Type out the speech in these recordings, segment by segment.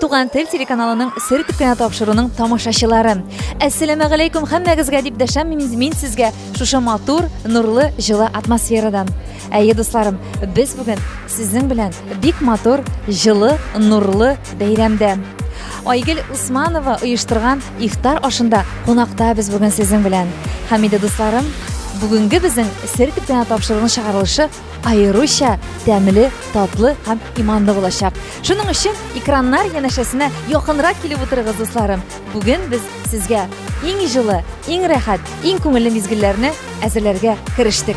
Туган тел телеканалының сер итеп кенә тапшыруның тамашачылары. Әссәламә галәйкүм һәммәгезгә дип дәшәм мин, мин сезгә шушы матур, нурлы, җылы атмосферадан. Әйе, дусларым, без бүген сезнең белән бик матур, җылы, нурлы бәйрәмдә. Айгел Усманова оештырган ифтар ашында кунакта без бүген сезнең белән. Хәмиде дусларым, бүгенге безнең сер итеп кенә тапшыруның чыгарылышы аеруча тәмле, татлы һәм иманлы булачак. Шуның өчен экраннар янәшәсенә якынрак килеп утырыгыз, дусларым. Бүген без сезгә иң җылы, иң рәхәт, иң күңелле мизгелләрне әзерләргә керештек.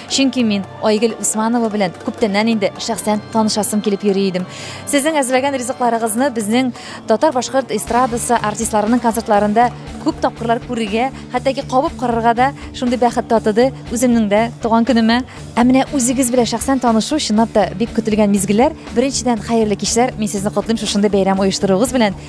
Чөнки мин Айгөл Усманова белән күптәннән инде шәхсән танышасым килеп йөри идем. Сезнең әзерләгән ризыкларыгызны безнең татар-башкорт эстрадасы артистларының концертларында күп тапкырлар күрергә, хәтта ки кабып карарга да шундый бәхет татыды үземнең дә туган көнемә. Ә менә үзегез белән шәхсән танышу чынлап та бик көтелгән мизгелләр. Беренчедән, хәерле кичләр. Мин сезне котлыйм шушындый бәйрәм оештыруыгыз белән.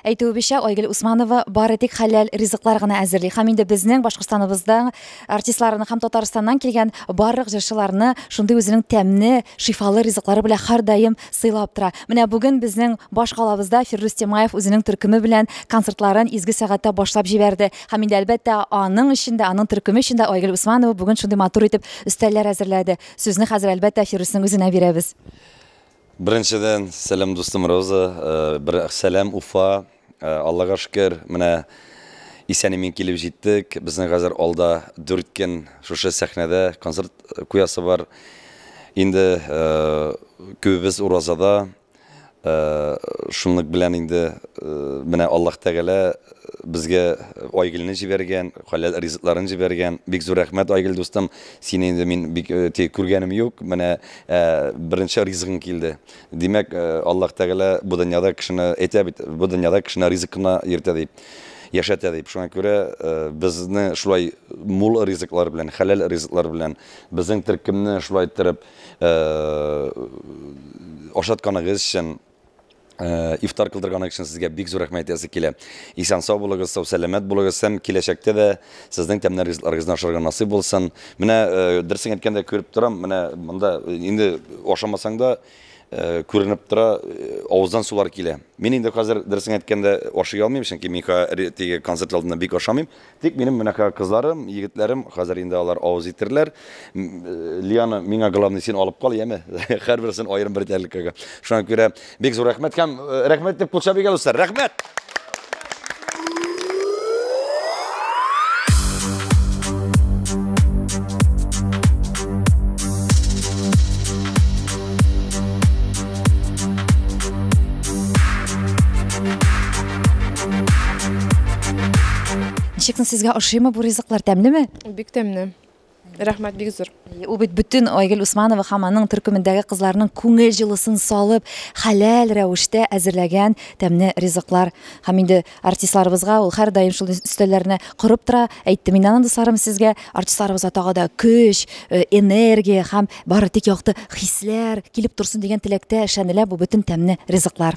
Әйтүебезчә, Айгөл Усманова бары тик хәләл ризыклар гына әзерли һәм инде безнең Башкортстаныбызда артистларны һәм Татарстаннан килгән барлык җырчыларны шундый үзенең тәмне, шифалы ризыклары белән һәрдаим сыйлап тора. Менә бүген безнең баш калабызда Фирдүс Тямаев үзенең төркеме белән концертларын изге сәгатьтә башлап җибәрде. Һәм инде, әлбәттә, аның өчен дә, аның төркеме өчен дә Айгөл Усманова бүген шундый матур итеп өстәлләр әзерләде. Сүзне хәзер, әлбәттә, Фирдүснең үзенә бирәбез. Беренчедән, сәлам дустым Роза, бер сәлам Уфа. Аллага шөкер, менә исән-имин килеп җиттек. Безнең хәзер алда дүрт көн шушы сәхнәдә концерт куясы бар. Инде күбебез уразада, шунлык белән инде менә Аллаһ Тәгалә безгә Айгөлне җибәргән, хәләл ризыкларын җибәргән. Бик зур рәхмәт, Айгөл дустым, сине инде мин бик тә күргәнем юк, менә Ә беренче ризыгың килде. Димәк, Аллаһ Тәгалә бу дөньяда кешене әйтә бит, бу дөньяда кешене ризык кына йөртә дип, яшәтә дип. Шуңа күрә безне шулай мул ризыклар белән, хәләл ризыклар белән, безнең төркемне шулай иттереп ашатканыгыз өчен, Э, ифтар кылдырганы өчен сезгә бик зур рәхмәт әйтәсе килә. Исән сау булыгыз, сау сәламәт булыгыз һәм киләчәктә дә сезнең тәмнәр ризыкларыгызны ашарга насыйп булсын. Менә э, дөресен әйткәндә күреп торам, менә монда э, инде ашамасаң да күренеп тора, авыздан сулар килә. Мин инде хәзер дөресен әйткәндә ашый алмыйм, чөнки мин теге концерт алдында бик ашамыйм. Тик минем менә ка кызларым, егетләрем, хәзер инде алар авыз итерләр. М, э, Лиана, миңа главный син алып кал, яме. Һәрберсен аерым бер тәрилкәгә. Шуңа күрә бик зур рәхмәт һәм э, рәхмәт дип кулча биргән дуслар. Рәхмәт! Ничекме сезгә ошыймы бу ризыклар тәмлеме? Бик тәмле. Рәхмәт бик зур. Ул бит бөтен Айгөл Усманова һәм аның төркемендәге кызларның күңел җылысын салып, хәләл рәвештә әзерләгән тәмле ризыклар. Һәм инде артистларыбызга ул һәрдаим шул өстәлләрне корып тора. Әйтте мин аны дусларым сезгә. Артистларыбызга тагы да көч, э, энергия һәм бары тик якты хисләр килеп торсын дигән теләктә эшләнелә бу бөтен тәмле ризыклар.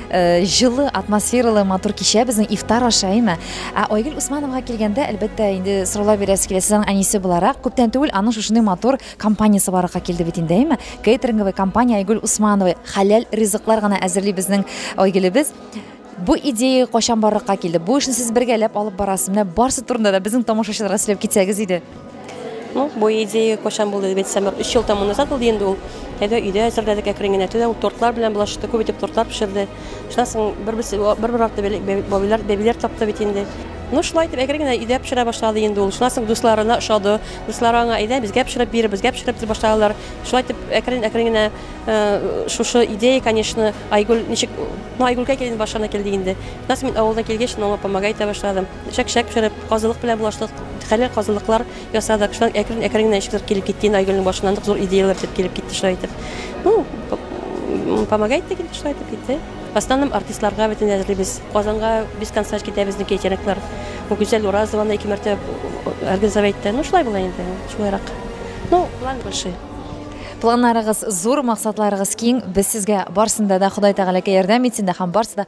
Э, җылы атмосфералы матур кичә безнең ифтар аша әйме ә айгөл усмановага килгәндә әлбәттә инде сораулар бирәсе килә сез аның әнисе буларак күптән түгел аның шушындый матур компаниясе барырга килде бит инде әйме кейтеринговый компания айгөл усманова хәләл ризыклар гына әзерли безнең айгөлебез бу идея кайчан барлыкка килде бу эшне сез бергәләп алып барасыз менә барысы турында да безнең тамашачыларга сөйләп китсәгез иде Ну, бу идея качан булды дип әйтсәм, өч ел тому назад булды инде ул. Әйдә, өйдә әзерләдек әкрен генә. Төнлә ул тортлар белән булашты, күп итеп тортлар пешерде. Шуннан соң бер-берсе бер-бер арты бәле- бәби- бабилар, бәбиләр тапты бит инде. Ну, шулай итеп әкрен генә өйдә пешерә башлады инде ул. Шуннан соң дусларына ошады. Дуслары аңа, әйдә, безгә пешереп бир, безгә пешереп дип башладылар. Шулай итеп әкрен, әкрен генә э, шушы идея, конечно, Айгөл ничек, ну, Айгөлгә килде, башына килде инде. Шуннан соң мин авылдан килгәч, мин аңа помогать итә башладым. Чәк-чәк пешереп, казылык белән булаштык. Хәләл казылыклар ясадык. Шулай әкрен-әкрен генә ничектер килеп китте инде Айгөлнең башына нык зур идеяләр итеп килеп китте шулай итеп. Ну, помогает та килде, шулай итеп китте. В основном артистларга бөтен әзерлибез. Казанга без концерт китә безнеке әйтәнәкләр. Бу Гүзәл Уразованы ике мәртәбә организовать итте. Ну, шулай була инде, шулайрак. Ну, планы большие. Планнарыгыз зур, максатларыгыз киң. Без сезгә барсында да Ходай Тәгаләкәй ярдәм итсен дә һәм барсы да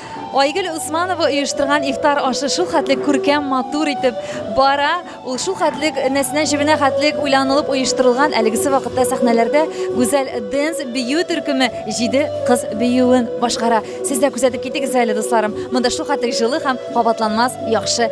Айгөл Усманова оештырган ифтар ашы шул хәтлек күркәм, матур итеп бара. Ул шул хәтлек нәсенә җебенә хәтлек уйланылып оештырылган. Әлегесе вакытта сәхнәләрдә гүзәл дэнс бию төркеме җиде кыз биюен башкара. Сез дә күзәтеп китегез әле, дусларым. Монда шул хәтлек җылы һәм кабатланмас яхшы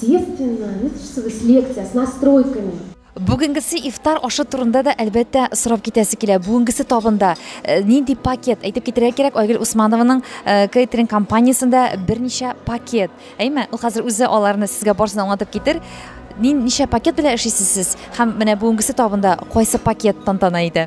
Естественно, не с лекцией, а с настройками. Бүгенгесе ифтар ашы турында да әлбәттә сорап китәсе килә. Бүгенгесе табында э, нинди пакет? Әйтеп китерә кирәк, Айгөл Усманованың э, кейтеринг компаниясендә берничә пакет. Әйме, ул хәзер үзе аларны сезгә барсын аңлатып китер. Нин ничә пакет белән эшлисез сез? Һәм менә бүгенгесе табында кайсы пакет тантана иде?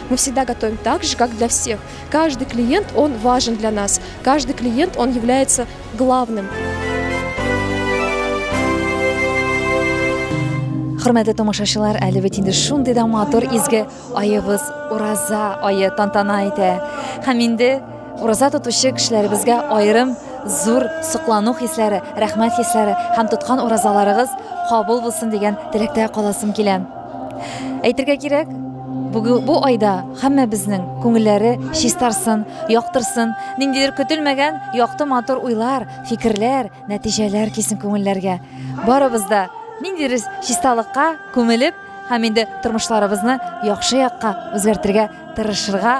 Мы всегда готовим так же, как для всех. Каждый клиент, он важен для нас. Каждый клиент, он является главным. Хөрмәтле тамашачылар, әле бит инде шундый да матур изге аебыз Ураза ае тантана итә. Һәм инде Ураза тотучы кешеләребезгә аерым зур соклану хисләре, рәхмәт хисләре һәм тоткан уразаларыгыз кабул булсын дигән теләктә каласым килә. Әйтергә кирәк, бүген бу айда һәммәбезнең күңелләре чистарсын, яктырсын, ниндидер көтелмәгән якты матур уйлар, фикерләр, нәтиҗәләр кисен күңелләргә. Барыбыз да ниндидер чисталыкка күмелеп һәм инде тормышларыбызны яхшы якка үзгәртергә тырышырга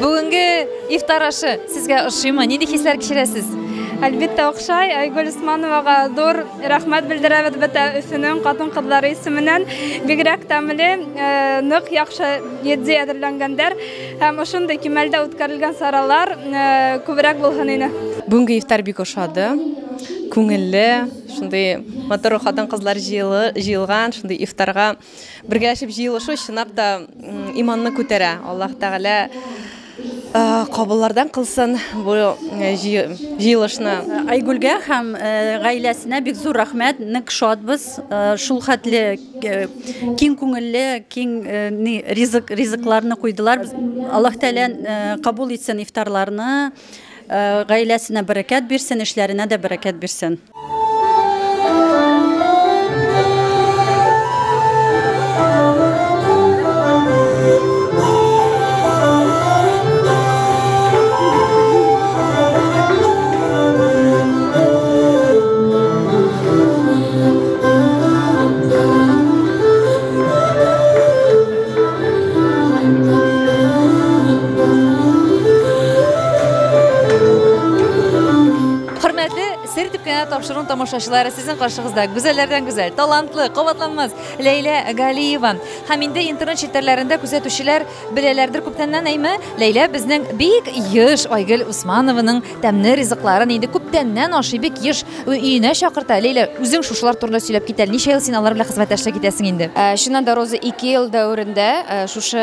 Бүгенге ифтар ашы сезгә ошыймы? Нинди хисләр кичерәсез? Әлбәттә охшай, Айгөл Усмановага зур рәхмәт белдерәбез бөтә Өфөнең хатын-кызлары исеменнән. Бигрәк тәмле, э, нык яхшы йөди әзерләнгәндер. Һәм ошондый кимәлдә үткәрелгән саралар күбрәк булһын иде. Бүгенге ифтар бик ошады. Күңелле, шундый матур хатын-кызлар җыелган, шундый ифтарга бергәләшеп җыелышу чынлап та иманны күтәрә. Аллаһ Тәгалә кабыллардан кылсын бу җыелышны. Айгүлгә һәм гаиләсенә бик зур рәхмәт. Нык шатбыз. Шул хәтле киң күңелле, киң ризык, ризыкларны куйдылар. Аллаһ Тәгалә кабул итсен ифтарларны, гаиләсенә бәрәкәт бирсен, эшләренә дә бәрәкәт бирсен. тапшыруын тамашачылары сезнең каршыгызда гүзәлләрдән гүзәл талантлы кабатланмас ләйлә галиева һәм инде интернет челтәрләрендә күзәтүчеләр беләләрдер күптәннән әйме ләйлә безнең бик еш айгөл усманованың Тәмне ризыкларын инде күптәннән ашый, бик еш өенә чакырта. Ләйлә, үзең шушылар турында сөйләп кит әле. Ничә ел син алар белән хезмәттәшлек итәсең инде? Ә, чыннан да, Роза, ике ел дәверендә ә, шушы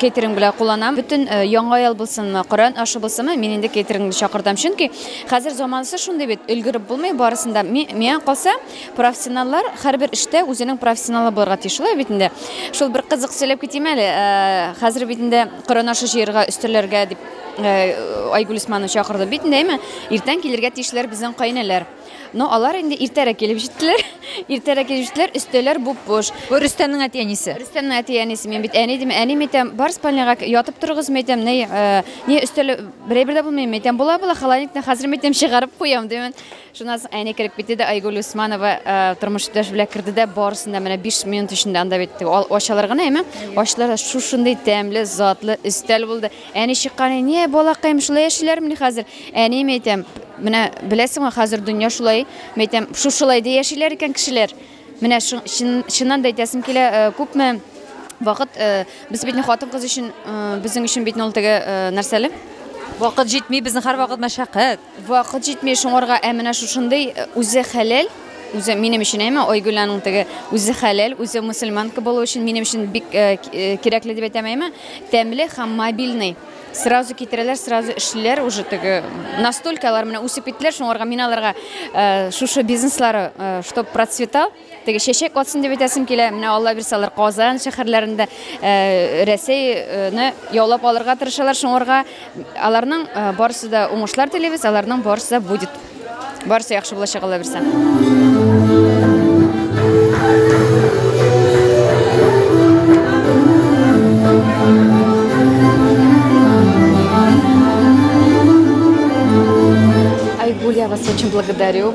кейтеринг белән кулланам. Бөтен ә, яңа ел булсынмы, Коръән ашы булсынмы, мин инде кейтерингны чакыртам. Чөнки хәзер заманасы шундый бит, өлгереп булмый барысын да. Ми, миңа калса, профессионаллар һәрбер эштә үзенең профессионалы булырга тиеш. Шулай бит инде. Шул бер кызык сөйләп китим әле. Ә, хәзер бит инде Коръән ашы җыярга, өстәлләргә дип, Айгуль Усманов чакырды бит инде, әйме? Иртән килергә тиешләр безнең каенәләр. Но алар инде иртәрәк килеп җиттеләр. Иртәрәк килеп җиттеләр, өстәләр буп-буш. Бу Рөстәмнең әти-әнисе. Рөстәмнең әти-әнисе. Мин бит әни дим, әни әйтәм, бар спальняга ятып торыгыз, әйтәм, ни, ни өстәл берәйбер дә булмый, әйтәм, була, була, холодильниктан хәзер әйтәм чыгарып куям, димен. Шуннан соң әни кереп китте дә Айгуль Усманова тормыш иптәш белән керде дә барысын да менә 5 минут эчендә анда бит ачалар гына, әйме? Ачтылар да шушындый тәмле, затлы өстәл булды. Әни чыккан, Әни, балакаем, шулай яшиләрмени хәзер? Әни, мәйтәм, менә беләсеңме, хәзер дөнья шулай, мәйтәм, шушылай да яшиләр икән кешеләр. Менә чын, чын, чыннан да әйтәсем килә, э, күпме вакыт, э, без бит не хатын-кыз өчен, э, безнең өчен бит не ул теге, э, нәрсәле? Вакыт җитми, безнең һәрвакыт мәшәкать. Вакыт җитми шуңарга, ә менә шушындый үзе хәләл, үзе минем өчен әйме, Айгөл аның теге үзе хәләл, үзе мусульманка булу өчен минем өчен бик кирәкле дип әйтәм әйме, тәмле һәм мобильный. Сразу китерәләр, сразу эшлиләр уже теге. Настолько алар менә үсеп киттеләр, шуңарга мин аларга шушы бизнеслары, чтобы процветал, Теге чәчәк атсын дип әйтәсем килә. Менә Алла бирсә алар Казан шәһәрләрендә э, Рәсәйне яулап алырга тырышалар. Шуңарга аларның э, барысы да уңышлар телибез, аларның барысы да будет. Барысы яхшы булачак Алла бирсә. Айгуль, я вас очень благодарю.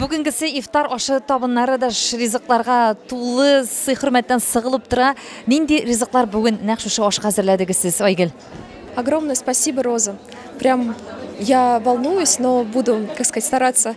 Бүгенгесе ифтар ашы табыннары да ризыкларга тулы сый хөрмәттән сыгылып тора. Нинди ризыклар бүген нәкъ шушы ашка әзерләдегез сез, Айгөл? Огромное спасибо, Роза. Прям я волнуюсь, но буду, как сказать, стараться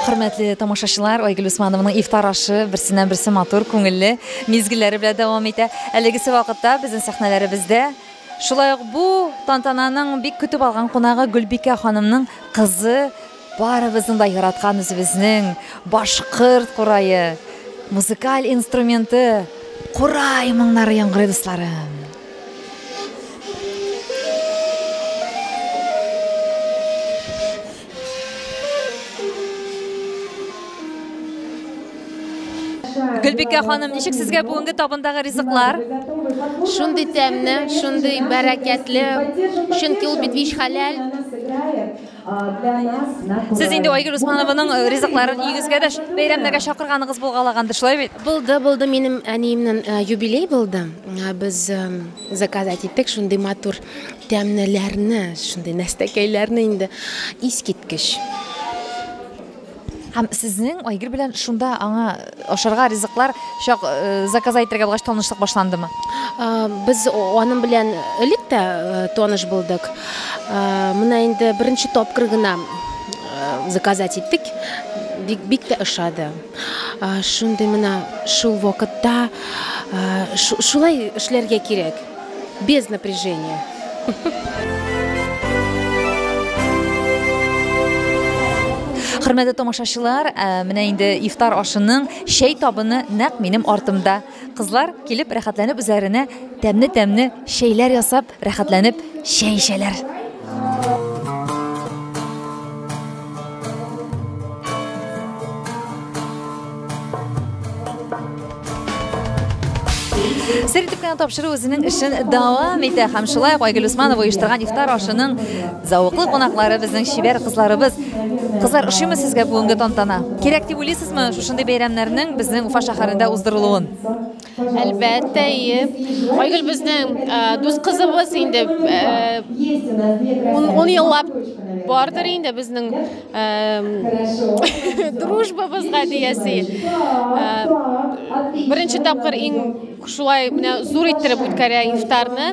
Хөрмәтле тамашачылар, Айгөл Усманованың ифтар ашы берсеннән-берсе матур, күңелле мизгелләре белән дәвам итә. Әлегесе вакытта безнең сәхнәләребездә шулай ук бу тантананың бик көтеп алган кунагы Гөлбикә ханымның кызы Барыбызның да яраткан үзебезнең башкорт курае, музыкаль инструменты, курай моңнары яңгырый, дусларым. Гөлбикә ханым, ничек сезгә бүгенге табындагы ризыклар? Шундый тәмне, шундый бәрәкәтле, чөнки ул бит вич хәләл. Сез инде Айгөл Усманованың э, ризыкларын өйегезгә дә бәйрәмнәргә чакырганыгыз булгалаганды, шулай бит? Булды, булды. Минем әниемнең э, юбилей булды. Э, без заказать иттек шундый матур тәмнеләрне, шундый нәстәкәйләрне инде искиткеч. Һәм сезнең Айгөл белән шунда аңа ашарга ризыклар чак заказа итәргә булгач танышлык башландымы? Без аның белән элек тә таныш булдык. Менә инде беренче тапкыр гына заказать иттек. Бик, бик тә ошады. Шундый менә шул вакытта шулай эшләргә кирәк. без напряжения. Хөрмәтле тамашачылар, э, менә инде ифтар ашының чәй табыны нәкъ минем артымда. Кызлар килеп рәхәтләнеп үзләренә тәмне-тәмне чәйләр ясап, рәхәтләнеп чәй эчәләр. Сер итеп кенә тапшыру үзенең эшен дәвам итә һәм шулай ук Айгөл Усманова оештырган ифтар ашының зәвыклы кунаклары безнең чибәр кызларыбыз. Кызлар, ошыймы сезгә бүгенге тантана? Кирәк дип уйлыйсызмы шушындый бәйрәмнәрнең безнең Уфа шәһәрендә уздырылуын? Әлбәттә, ие. Айгөл безнең э, дус кызыбыз инде э, ун, ун еллап бардыр инде безнең э, дружбабызга диясе. Э, беренче тапкыр иң шулай менә зур иттереп үткәрә ифтарны.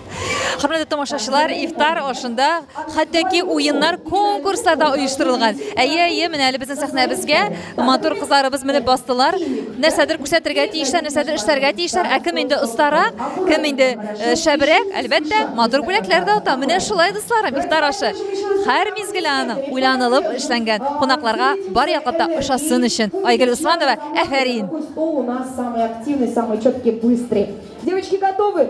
Хөрмәтле тамашачылар, ифтар ашында хәтәки уеннар, конкурслар да оештырылган. Әйе, әйе, менә әле безнең сәхнәбезгә матур кызларыбыз менеп бастылар. Нәрсәдер күрсәтергә тиешләр, нәрсәдер эшләргә тиешләр. Ә кем инде остара, кем инде э, шәбрәк, әлбәттә, матур бүләкләр дә ота. Менә шулай дусларым, ифтар ашы. Һәр мизгел аның уйланылып эшләнгән. Кунакларга бар яклап та ошасын өчен. Айгөл Усманова, әфәрин. Девочки готовы?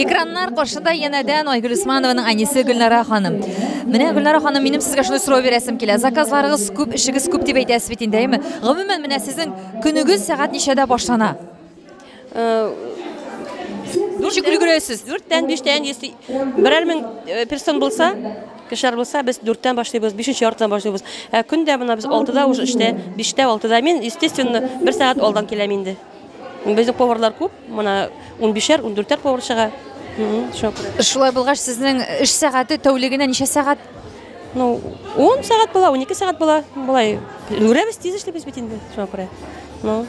Экраннар каршында янәдән Айгөл Усманованың әнисе Гөлнара ханым. Менә Гөлнара ханым, минем сезгә шундый сорау бирәсем килә. Заказларыгыз күп, эшегез күп дип әйтәсез бит инде, әйме? Гомумән, менә сезнең көнегез сәгать ничәдә башлана? Э, Ничек өлгерәсез? Дүрттән, биштән, берәр мең э, персон булса, кешеләр булса, без дүрттән башлыйбыз, бишенче яртыдан башлыйбыз. Ә көндә мына без алтыда уже эштә, биштә, алтыда. Мин, естественно, бер сәгать алдан киләм инде. Безнең поварлар күп, мына унбишәр, ундүртәр повар чыга. Шулай булгач, сезнең эш сәгате тәүлегенә ничә сәгать? Ну, 10 сәгать була, 12 сәгать була. Болай үлгерәбез, тиз эшлибез бит инде, шуңа күрә. Ну,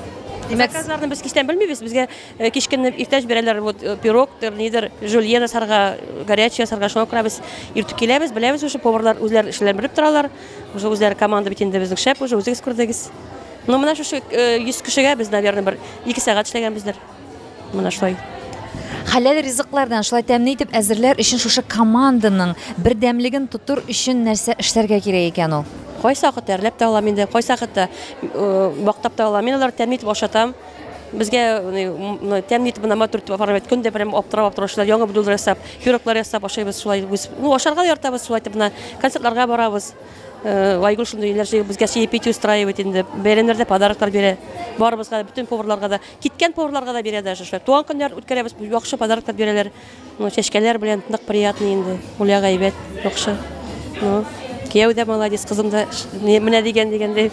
Димәк, заказларны без кичтән белмибез. Безгә э, кичкенне иртәш бирәләр, вот э, пирогтыр, нидер, жульен ясарга, э, горячий ясарга, шуңа күрә без иртүк киләбез, беләбез уже поварлар үзләр эшләрен белеп торалар. Уже үзләре команда бит инде безнең шәп, уже үзегез күрдегез. Ну менә шушы 100 кешегә без, наверное, бер ике сәгать эшләгәнбездер. Менә шулай. Хәләл ризыклардан шулай тәмле итеп әзерләр өчен шушы команданың бердәмлеген тотыр өчен нәрсә эшләргә кирәк икән ул? Кайсы вакытта әрләп тә алам инде, кайсы вакытта бактап та алам. Мин алар тәмле итеп ашатам. Безгә тәмле итеп мына матур итеп апарып көн дә прям аптырап аптырап ашыйлар. Яңа блюдо ясап, пироглар ясап ашыйбыз шулай. Ну ашарга да яратабыз шулай итеп мына концертларга барабыз. Э, Айгөл шундый иләр җыйып безгә чаепитие устраивать инде. Бәйрәмнәрдә подароклар бирә. Барыбызга да, бөтен поварларга да, киткән поварларга да бирә даже шулай. Туган көннәр үткәрәбез, яхшы подароклар бирәләр. Ну, чәчкәләр белән нык приятный инде. Гуля гайбәт, яхшы. Ну, кияү дә молодец, кызым да менә дигән дигәндәй.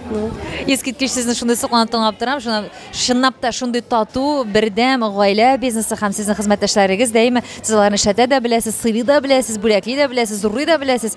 Ну, Искиткеч сезне шундый сокланып тыңлап торам. Шуна- Чынлап та шундый тату, бердәм гаилә бизнесы һәм сезнең хезмәттәшләрегез дәимә сез аларны эшләтә дә беләсез, сыйлый да беләсез, бүләкли дә беләсез, зурлый да беләсез.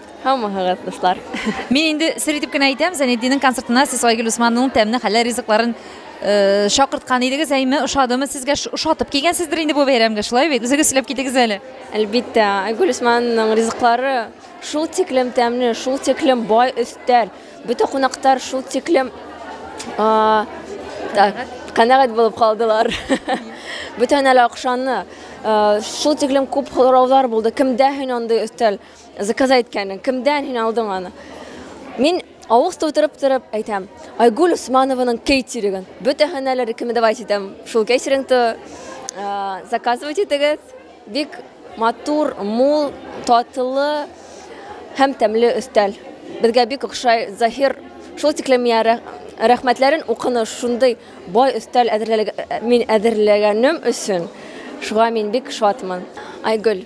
Һаумыһыгыз, дуслар. Мин инде сер итеп кенә әйтәм, Зәнетдиннең концертына сез Айгөл Усманның тәмне хәләл ризыкларын э, чакырткан идегез, әйме, ошадымы сезгә? Ш- Ошатып килгәнсездер инде бу бәйрәмгә, шулай бит? Үзегез сөйләп китегез әле. Әлбиттә, Айгөл Усманның ризыклары шул тиклем тәмле, шул тиклем бай өстәл. Бөтен кунактар шул тиклем а, так, канәгать булып калдылар. Бөтен әле акшаны. а, Шул тиклем күп һораулар булды. Кемдә һин андый өстәл? Заказа иткәнең, кемдән һин алдың аны? Мин авыз тутырып торып әйтәм, Айгуль Усманованың кейтиригын. Бөтәһен әле рекомендовать итәм. Шул кейтирингты заказывать итегез. Бик матур, мул, татлы һәм тәмле өстәл. Безгә бик охшай Заһир шул тиклем миңа рәхмәтләрен укыны шундый бай өстәл әзерләгән мин әзерләгәнем өчен шуга мин бик шатмын. Айгөл,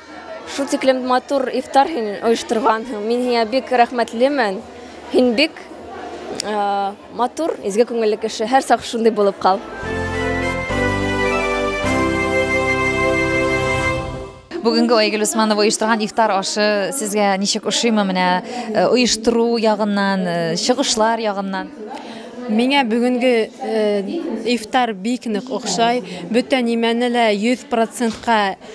Шул тиклем матур ифтар һин оештырганһың. Мин һиңа бик рәхмәтлемен. Һин бик матур, изге күңелле кеше. Һәр сак шундый булып кал. Бүгенге Айгөл Усманова оештырган ифтар ашы сезгә ничек ошыймы менә э, оештыру ягыннан, э, чыгышлар ягыннан? Миңа бүгенге э, ифтар бик нык охшай. Бөтен нимәне лә 100%-ка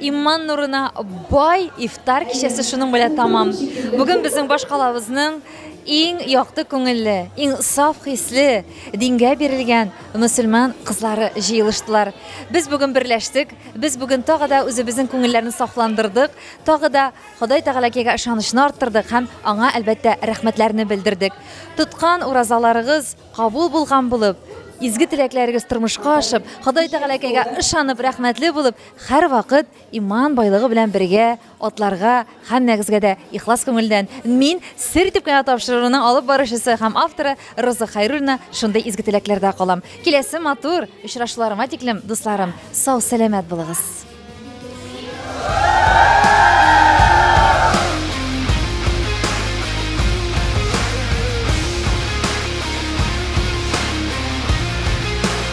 Иман нурына бай ифтар кичәсе шуның белән тамам. Бүген безнең башкалабызның иң якты күңелле, иң саф хисле, дингә бирелгән мөселман кызлары җыелыштылар. Без бүген берләштек, без бүген тагы да үзебезнең күңелләрне сафландырдык, тагы да Ходай Тәгаләкегә ышанычны арттырдык һәм аңа әлбәттә рәхмәтләрне белдердек. Тоткан уразаларыгыз кабул булган булып, изге теләкләрегез тормышка ашып, Ходай Тәгаләкегә ышанып, рәхмәтле булып, Һәрвакыт иман байлыгы белән бергә атларга һәммәгезгә дә ихлас күңелдән мин, Сер итеп кенә тапшыруның алып баручысы һәм авторы Роза Хәйруллина шундый изге теләкләрдә калам. Киләсе матур очрашуларыма тиклем, дусларым, сау-сәламәт булыгыз!